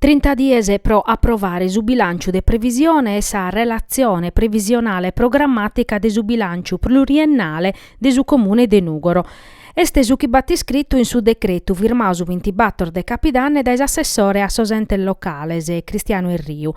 Trinta dies pro aprovare su bilànciu de previsione e sa relatzione previsionale programmàtica de su bilànciu pluriennale de su Comune de Nùgoro. Est su chi b'at iscritu in su decretu firmadu su bintibator de Capidanne dae s'assessore a sos Entes Locales, Cristiano Erriu.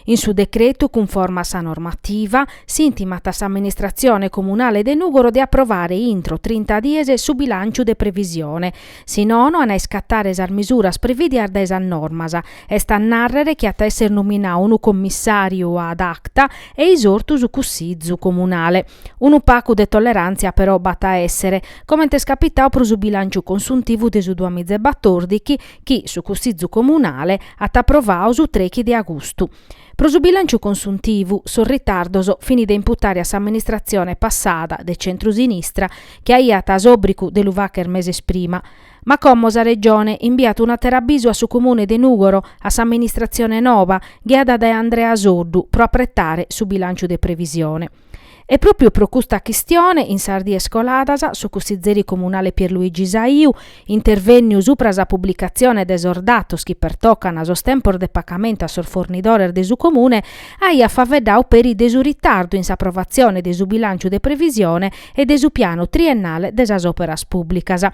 In su decretu, cunforma a sa normativa, s'intimat a s'Amministratzione Comunale de Nùgoro de aprovare intro trinta dies su bilànciu de previsione, si nono an a iscatare sas misuras previdias dae sas normas, est a nàrrere chi at a èssere nominadu unu commissàriu ad acta e isortu su Cussizu Comunale. Unu pagu de tolleràntzia però b'at a èssere, comente est capitadu pro su bilànciu consuntivu de su duamìgia e batordighi, chi su Cussizu Comunale at aprovadu su trechi de agustu. Pro su bilànciu consuntivu, sos ritardos fini de imputare a s'amministratzione passada de centru-sinistra chi aiat s'òbrigu de lu fàghere meses prima. Ma como sa Regione imbiat un'àteru abisu a su Comune de Nùgoro, a s'amministratzione nova, ghiada dae Andrea Soddu, pro apretare su bilànciu de previsione. E pròpiu pro custa chistione, in sas dies coladas, su cussizeri comunale Pierluigi Saiu, intervènniu subra sa publicatzione de sos datos chi pertocant sos tempos de pagamentu a sos fornidores de su Comune, aiat faeddadu peri de su ritardu in s'aprovatzione de su bilànciu de previsione e de su pianu triennale de sas òperas pùblicas,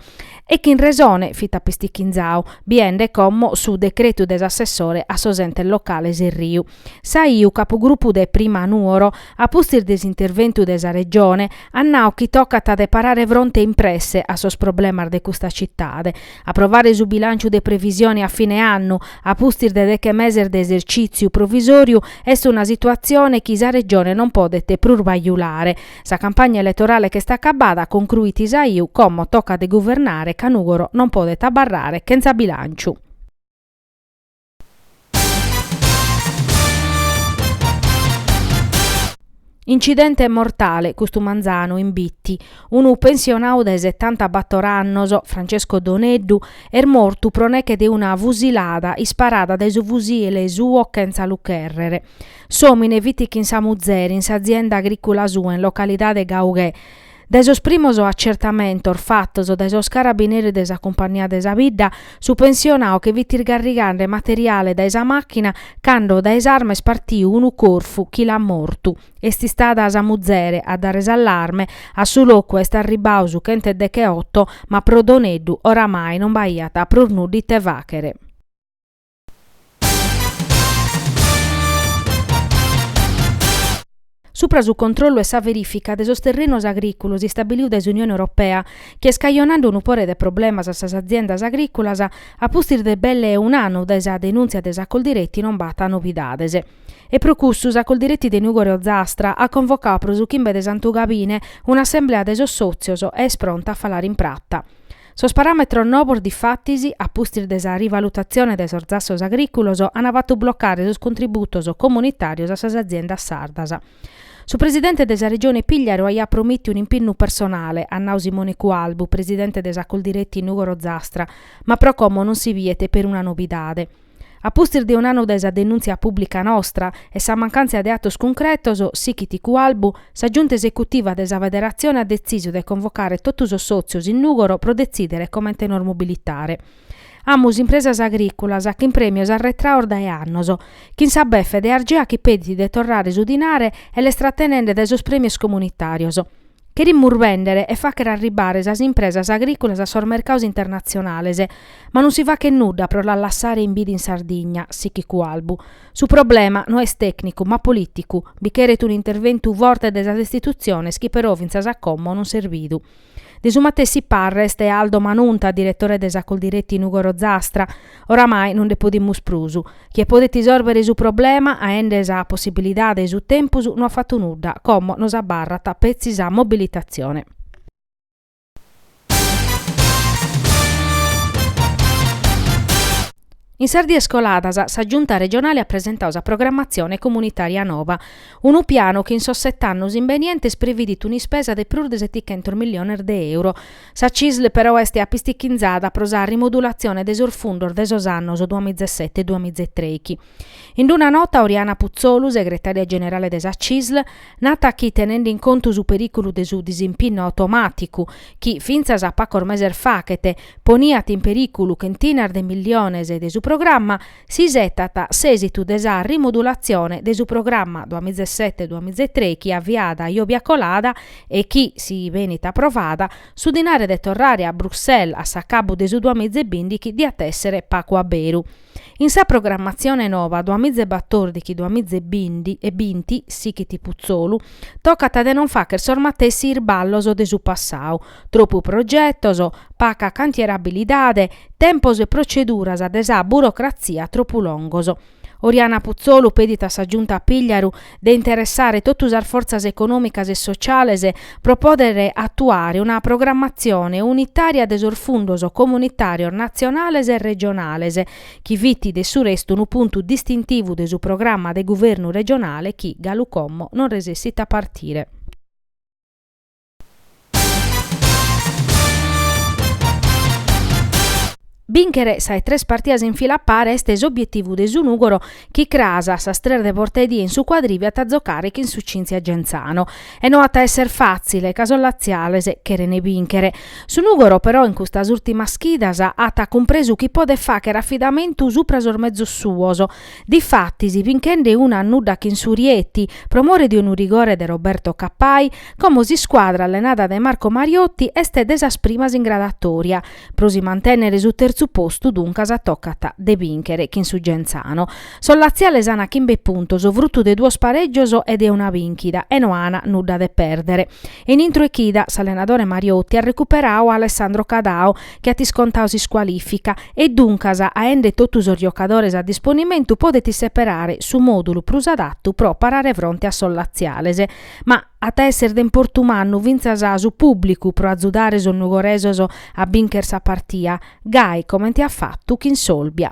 e chin resone fit apistichinzadu, biende como su decretu de s'assessore a sos entes locales Erriu. Saiu capugrupu de Prima Nuoro, a pustis de s'interventu de sa Regione, at nau chi tocat de parare fronte in presse a sos problemas de custa citade, aprovare su bilànciu de previsione a fine annu, a pustis de deche meses de esercìtziu provisòriu, est una situatzione chi sa Regione non podet prus bajulare. Sa campagna eletorale ch'est acabada, concruit Saiu, como tocat de guvernare ca Nùgoro non podet abarrare chentza bilànciu. Incidente mortale custu manzanu in Bitti. Unu pensionau de setanta bator annos, Francesco Doneddu, est mortu pro neche de una fusilada isparada dae su fusile suo chentza lu chèrrere. S'òmine fit chin sa muzere in s'azienda agrìcula sua in localidade Gaughè, Dae sos primos acertamentos fatos dae sos carabineris de sa Cumpagnia de sa Bidda, su pensionadu che fit isgarrigande materiale dae sa màchina cando dae s'arma est partiu unu corfu chi l'at mortu. Est istada sa muzere a dare s'allarme, a su locu est arribbadu su chent'e decheoto ma pro Doneddu oramai non b'aiat prus nudda ite fàghere. Supra su controllu e sa verìfica de sos terrenos agrìculos istabiliu dae s'Unione Europea, chi est cajonande unu pore de problemas a sas aziendas agrìculas, a pustis de belle e un'annu dae sa denùntzia de sa Coldiretti non b'at novidades. E pro cussu sa Coldiretti de Nùgoro e Ozastra at convocau pro su chimbe de Santu Gabine un'assemblea de sos sòtzios e est pronta a falare in prata. Sos paràmetros novos difatis, a pustis de sa rivalutatzione de sos zassos agrìculos, ant fatu blocare sos contributos comunitàrios a sas aziendas sardas. Su presidente de sa Regione Pigliaru aiat promìtiu un'impinnu personale, at nau Simone Cualbu, presidente de sa Coldiretti Nùgoro Ozastra, ma pro como non si biet peruna novidade. A pustis de un'annu dae sa denùntzia pùblica nostra e sa mancàntzia de atos cuncretos, sichit Cualbu, sa Giunta Esecutiva de sa Federatzione at detzisu de convocare totu sos sòtzios in Nùgoro pro detzìdere comente nos mobilitare. Amus impresas agrìculas chin prèmios arretraos dae annos, chin sa befe de Argea chi pedit de torrare su dinare e l'est tratenende dae sos prèmios comunitàrios. Cherimus bèndere e fàghere arribare sas impresas agrìculas a sos mercaos internatzionales, ma non si faghet nudda pro las lassare in bida in Sardigna, sichit Cualbu. Su problema no est tècnicu, ma polìticu, bi cheret un'interventu forte de sas istitutziones chi però fintzas a como non s'est bidu. De su matessi parre est Aldo Manunta, diretore de sa Coldiretti Nùgoro Ozastra, Oramai no nde podimus prus. Chie podet isòrbere su problema aende sa possibilidade e su tempus no at fatu nudda, como nos abarrat petzi sa mobilitatzione. In sas dies coladas sa Giunta regionale at presentau sa programmatzione comunitària nova, unu pianu chi in sos set'annos imbenientes previdit un'ispesa de prus de setichentos milliones de euro, Sa CISL però est apistichinzada pro sa rimudulatzione de sos fundos de sos annos duamizesete e duamizetreichi. In una nota Oriana Putzolu, segretària generale de sa CISL, nat chi tenende in contu su perìculu de su disimpinnu automàticu, chi fintzas a pagos meses faghet poniat in perìculu chentinas de milliones de su programma, s'isetat s'èsitu de sa rimudulatzione de su programma duamizesete-duamizetrei chi aviat a iòbia colada e chi, si benit aprovada, su dinare de torrare a Bruxelles a s'acabu de su duamizebìndighi diat èssere pagu a beru. In sa programmatzione nova duamizebatordighi-duamizebindi e binti, sighit Putzolu, tocat de non fàghere sos matessi isballos de su passau, Tropu progetos, paca cantierabilidade, tempos e proceduras de sa burocratzia tropu longos. Oriana Puzzolu pedit a sa Giunta Pigliaru de interessare totu sas fortzas econòmicas e sociales pro pòdere atuare una programmatzione unitària de sos fundos comunitàrios natzionales e regionales, chi fit de su restu unu puntu distintivu de su programma de guvernu regionale chi galu como non resessit a partire. Bìnchere sas tres partidas in fila a pare est s'obietivu de su Nùgoro chi cras a sas tres de porta 'e die in su Quadrivio at a zocare chin su Cynthia Genzano e no at a esser fàtzile ca sos latziales cherent bìnchere. Su Nùgoro però in custas ùrtimas chidas at cumpresu chi podet fàghere afidamentu supra sos mezos suos Difatis, binchende una a nudda chin su Rieti, pro more de unu rigore de Roberto Cappai, como s'iscuadra allenada dae Marco Mariotti est de sas primas in gradatòria, pro si mantènnere su terzu postu duncas tocat de bìnchere chin su Genzano. Sos latziales ant chimbe puntos, frutu de duos parègios e de una bìnchida, e no ant nudda de pèrdere. In intro 'e chida, s'allenadore Mariotti at recuperadu a Alessandro Cadao, chi at iscontadu s'iscualìfica e duncas aende totu sos giocadores a disponimentu podet seperare su mòdulu prus adatu pro parare fronte a sos latziales. Ma at a èssere de importu mannu fintzas su pùblicu pro azudare sos nugoresos a bìnchere sa partia, gai comente at fatu chin s'Olbia.